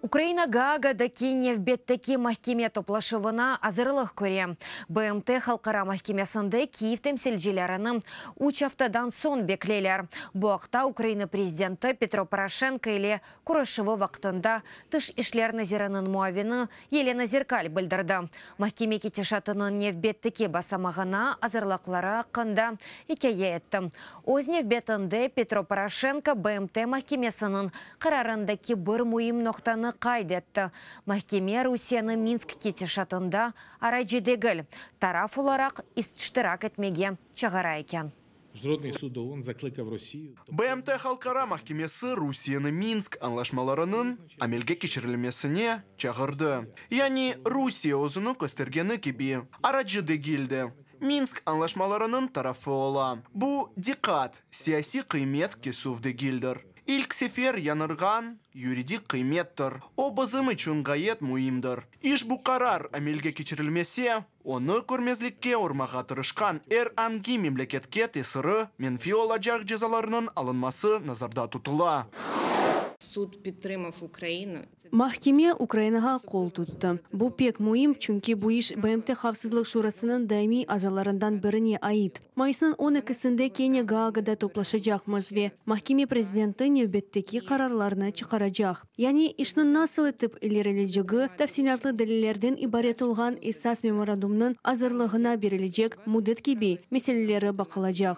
Ukraina Gaagadaki nevbetteki mahkeme toplaşuvına azırlıq köre, BMT Halqara mahkemesinde Kyiv temsilcilerini üç aftadan soñ bekleyler. Bu aqta Ukraina prezidenti Petro Poroşenko ile körüşüvi vaqtında tış işler naziriniñ muavini Yelena Zerkal bildirdi. Mahkeme ketişatınıñ nevbetteki basamağına azırlıqları aqqında ikâye etti. Öz nevbetinde, Petro Poroşenko BMT mahkemesiniñ qararındaki bir müim noqtanı qayd etti, mahkeme Rusiyeni Minsk ketişatında aracı degil, taraf olaraq iştirak etmege çağıra eken. BMT Halqara mahkemesi Rusiyeni Minsk añlaşmalarınıñ amelge keçirilmesine çağırdı. Yani, Rusiye özüni köstergeni kibi, aracı degil de, Minsk añlaşmalarınıñ tarafı ola. Bu, diqqat, siyasiy qıymet kesüv degildir. İlk sefer yañırğan yuridik qıymettir. O, bizim içün ğayet müimdir. İşbu qarar amelge keçirilmese, Onı körmezlikke urmağa tırışqan er angi memleketke tesiri menfiy olacaq cezalarnıñ alınması nazarda tutula. Sud pitrmov Ukraina. Mahkeme Ukrainağa qol tuttı. Bu pek müim, çünki bu iş BMT Havfsızlıq Şurasınıñ daimiy azalarından birine ait. Mayısnıñ on ekisinde kene Gaagada toplaşacaqmız ve mahkeme prezidenti nevbetteki qararlarnı çıqaracaq. Yani işniñ nasıl etip ilerilecegi tafsilâtlı delillerden ibaret olğan esas memorandumnıñ azırlığına berilecek müddet kibi meseleleri baqılacaq.